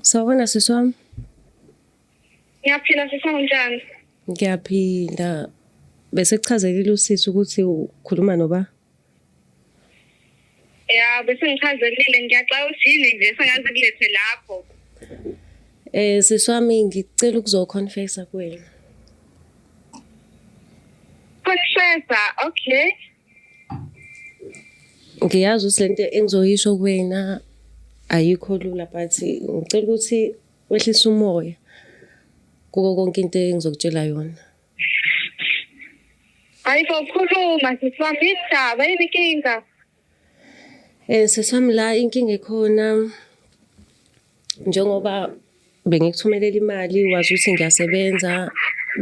Sawubona sisi wami. Ngiyaphila sisi wami njani? Ngiyaphila. Bese kuchazelile usisi ukuthi ukhuluma noba? Ya, bese ngichazelile ngiyaxaka ukuthi yini nje sengaze kulethe lapho. Eh sisi wami ngicela ukuzoconfessa kuwena. Confessa, okay. Ngiyazi ukuthi lento engizoyisho kuwena ayikho lula but ngicela ukuthi wehlise umoya kuko konke into engizokutshela yona. Hayi bo khuluma sisi wami yini ndaba yini inkinga? Eh sesi wami la inkinga ekhona njengoba bengikuthumelela imali wazi ukuthi ngiyasebenza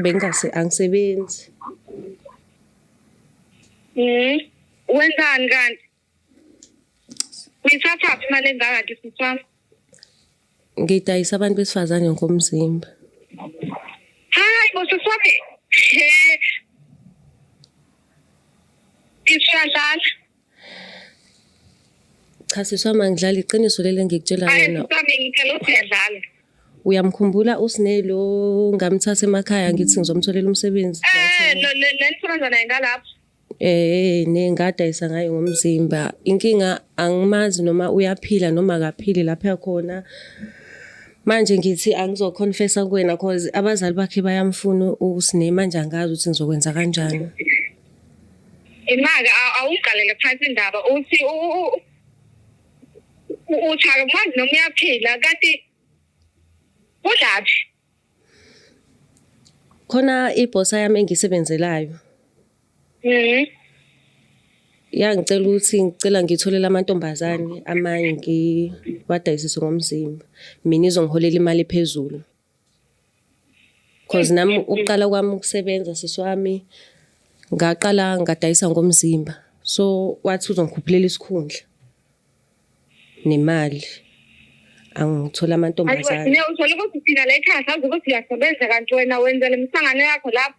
bengingase angisebenzi mhm wenzani kanti uyithatha phi imali engaka nje sisami ngidayisa abantu besifazane ngokomzimba hayi bo sisami he isiyadlala Cha sisi wami angidlali iqiniso leli engikutshela lona. Uyamkhumbula uSne lo ngamthatha emakhaya ngithi ngizomtholela umsebenzi. Eh lo le ntombazana naye ngalapha. Eh ne ngadayisa ngayo ngomzimba. Inkinga angimazi noma uyaphila noma akaphili lapha khona. Manje ngithi angizo confessa kuwena cause abazali bakhe bayamfuna uSne manje angazi ukuthi ngizokwenza kanjani. Imaka awuqalele phansi indaba uthi uthaka manje noma uyaphila kanti kulaphi khona ibhosa yami engisebenzelayo mhm yangicela ukuthi ngicela ngitholele amantombazane amanye ngiwadayisise ngomzimba mina izongiholela imali phezulu Cause nami ukuqala kwami ukusebenza sisi wami ngaqala ngadayisa ngomzimba. So wathi uzongikhuphulela isikhundla nemali angithole amantombazane. Uthole ukuthi thina layikhaya sazi ukuthi uyasebenza kanti wena wenza le misangano yakho lapho.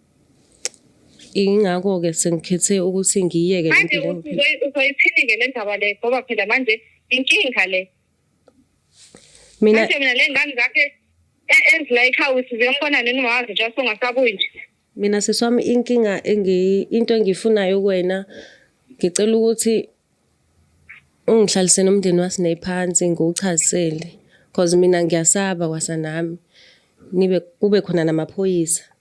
Ingakho-ke sengikhethe ukuthi ngiyiyeke le manje mpilo engiphila. uzoyi- uzoyiphilike le ndaba le ngoba phela manje inkinga le Mina manje mina le ngane zakhe e- ezila ekhaya ukuthi ziyombona nini ungawazi just ungasabuyi nje mina sisi wami inkinga engi into engiyifunayo kuwena ngicela ukuthi ungihlalise nomndeni waSine phansi ngiwuchazisele because mina ngiyasaba kwasa nami nibe kube khona namaphoyisa.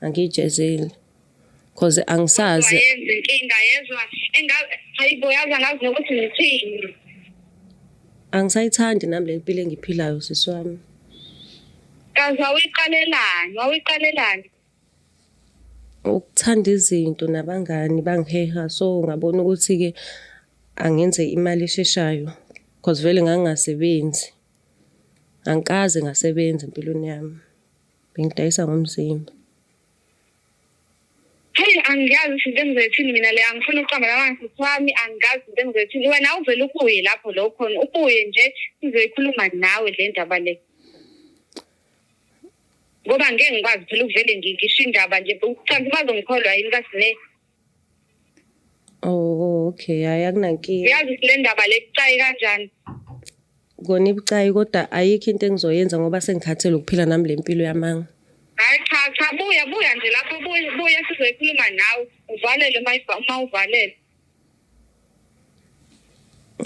angiyijezeli cause angisazi yenza inkinga yezwa engabe hayibo yazi angazi nokuthi ngithini angisayithandi nami le mpilo engiphilayo sisi wami kazi wawuyiqalelani wawuyiqalelani ukuthanda izinto nabangani bangiheha so ngabona ukuthi-ke angenze imali esheshayo cause vele ngangingasebenzi angikaze ngasebenza empilweni yami Bengidayisa ngomzimba. Hey angiyazi ukuthi into engizoyithini mina le angifuni ukuqamba la ngasisi wami angiyazi into engizoyithini wena uvele ubuye lapho lo khona ubuye nje sizoyikhuluma nawe le ndaba le ngoba ngeke ngikwazi phela ukuvele ngisho indaba nje ucanti bazongikholwa yini kasine Oh okay, hayi akunankinga. Uyazi ukuthi le ndaba le kucayi kanjani? Kona ibucayi kodwa ayikho into engizoyenza ngoba sengikhathele ukuphila nami le mpilo yamanga. Hayi cha cha buya buya nje lapho buya buya sizoyikhuluma nawe uvalele uma iva- uma uvalele.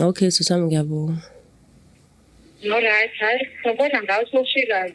Okay sisi wami ngiyabonga. Alright, hayi ngibona ngawe sewushikayo.